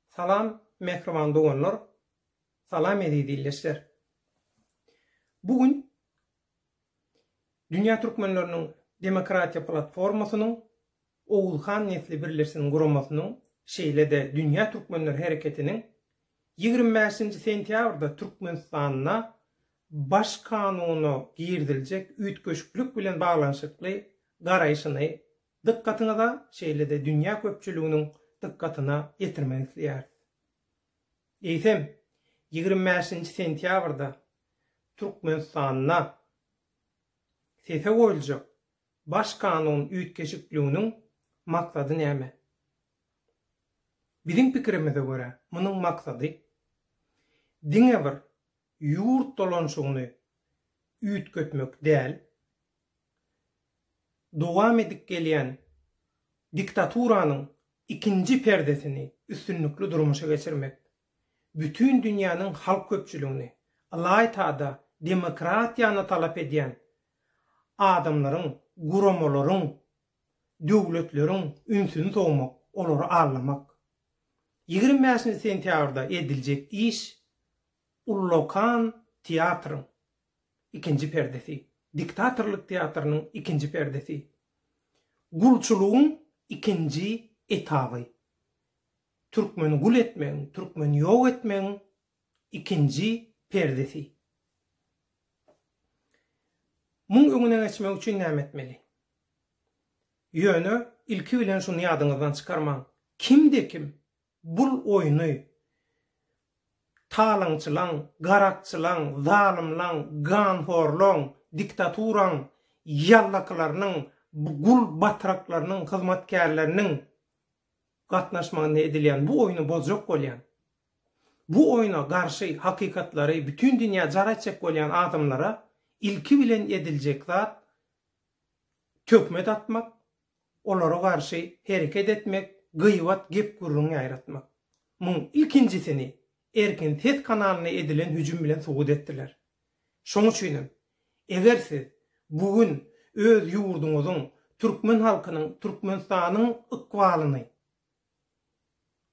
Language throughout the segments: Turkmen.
Salam mähriban doganlar, salam eziz ildeşler. Bu gün Dünýä Türkmenleriniň Demokratiýa Platformasynyň Oguzhan Nesli Birleşsin guramasynyň şeýle-de Dünýä Türkmenler Hereketiniň ýigrimi bäşinji sentýabrda Türkmenistanda Baş kanuna giriziljek üýtgeşiklik bilen baglanyşykly garaýşyny Dykgatyňyza şeýle-de dünýä köpçüliginiň dykgatyna ýetirmek isleýäris. Eýsem, ýigrimi bäşinji sentýabrda Türkmenistanda sese goýuljak Baş kanun üýtgeşikliginiň maksady näme? Biziň pikirimize görä, munuň maksady diňe bir ýurt dolanyşygyny üýtgetmek däl, dowam edip gelýän diktaturanyň ikinji perdesini üstünlikli durmuşa geçirmek, bütin dünýäniň halk köpçüligini, ylaýta-da demokratiýany talap edýän adamlaryň, guramalaryň, döwletleriň ünsüni sowmak, olary aldamak. Ýigrimi bäşinji sentýabrda ediljek iş ullakan teatryň, ikinji perdesi, diktatorlyk teatrynyň ikinji perdesi, gulçulygyň ikinji etaby, türkmeni gul etmegiň, türkmeni ýok etmegiň ikinji perdesi. Muň öňüne geçmek üçin näme etmeli? Ýöne ilki bilen şuny ýadyňyzdan çykarmaň, kimde-kim Bul oýny talaňçylaň, garakçylaň, zalymlaň, ganhorlaň, diktaturaň ýallakylarynyň, gul batraklarynyň, hyzmatkärleriniň gatnaşmagynda edilýän bu oýny bozjak bolýan, bu oýna garşy hakykatlary bütin dünýä jar etjek bolýan adamlara ilki bilen ediljek zat töhmet atmak, olara garşy hereket etmek, gyýbat gep-gürrüň ýaýratmak. Muň ilkinjisini Erkin ses kanalyna edilen hüjüm bilen subut etdiler. Şoň üçin hem, eger siz bu gün öz ýurduňyzyň, türkmen halkynyň, Türkmenistanyň ykbalyny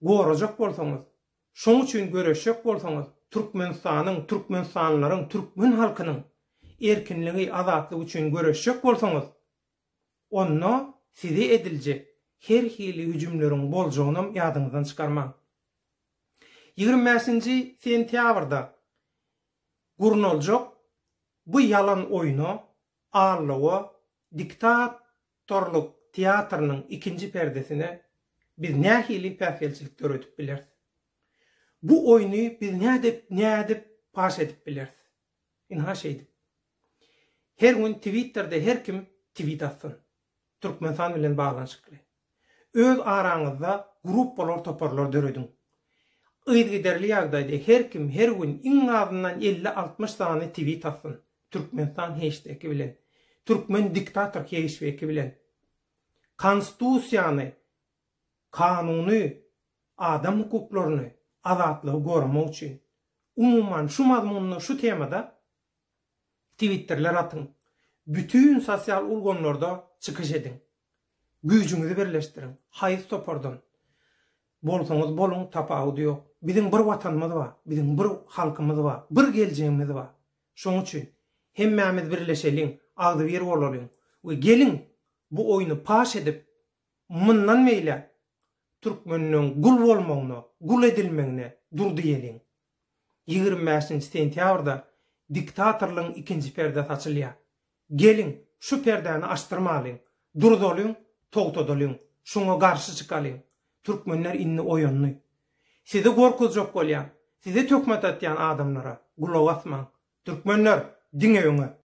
gorajak bolsaňyz, şoň üçin göreşjek bolsaňyz, Türkmenistanyň, türkmenistanlylaryň, türkmen halkynyň erkinligi, azatlygy üçin göreşjek bolsaňyz, Onda size ediljek her hili hüjümleriň boljagynam ýadyňyzdan çykarmaň. Ýigrimi bäşinji sentýabrda gurnaljak bu ýalan oýna Allawa diktatorlyk teatrynyň ikinji perdesine biz nähili päsgelçilik döredip bileris? Bu oýny biz nädip, nädip paş edip bileris? Ynha şeýdip. Her gün twitterde her kim twit atsyn. Türkmenistan bilen baglanyşykly. Öz araňyzda gruppalar toparlar dörediň. Yzgiderli ýagdaýda her kim her gün iň azyndan elli altmyş sany twit atsyn. Türkmenistan heşteki bilen. Türkmen diktator heşveki bilen. Konstusiýany kanuny, adam hukuklaryny, azatlygy goramak üçin, umuman, şu mazmunda, şu temada twitterler atyň, bütin sosial ulgamlarda çykyş ediň, güýjüňizi birleşdiriň, haýsy topardan bolsaňyz boluň, tapawudy ýok. Biziň bir Watanymyz bar, biziň bir halkymyz bar, bir geljegimiz bar. Şonuň üçin hemmämiz birleşeliň, agzybir bolalyň we geliň, bu oýny paş edip, Mundan beýläk türkmenleň gul bolmagyna, gul edilmegine dur diýeliň. Ýigrimi bäşinji sentýabrda diktatorlygyň ikinji perdesi açylýar. Geliň, şu perdäni açdyrmalyň, durzalyň, togtadalyň, şuňa garşy çykalyň. Türkmenler indi oýandy. Sizi gorkuzjak bolýan, size töhmet atýan adamlara gulak asmaň. Türkmenler, diňe öňe!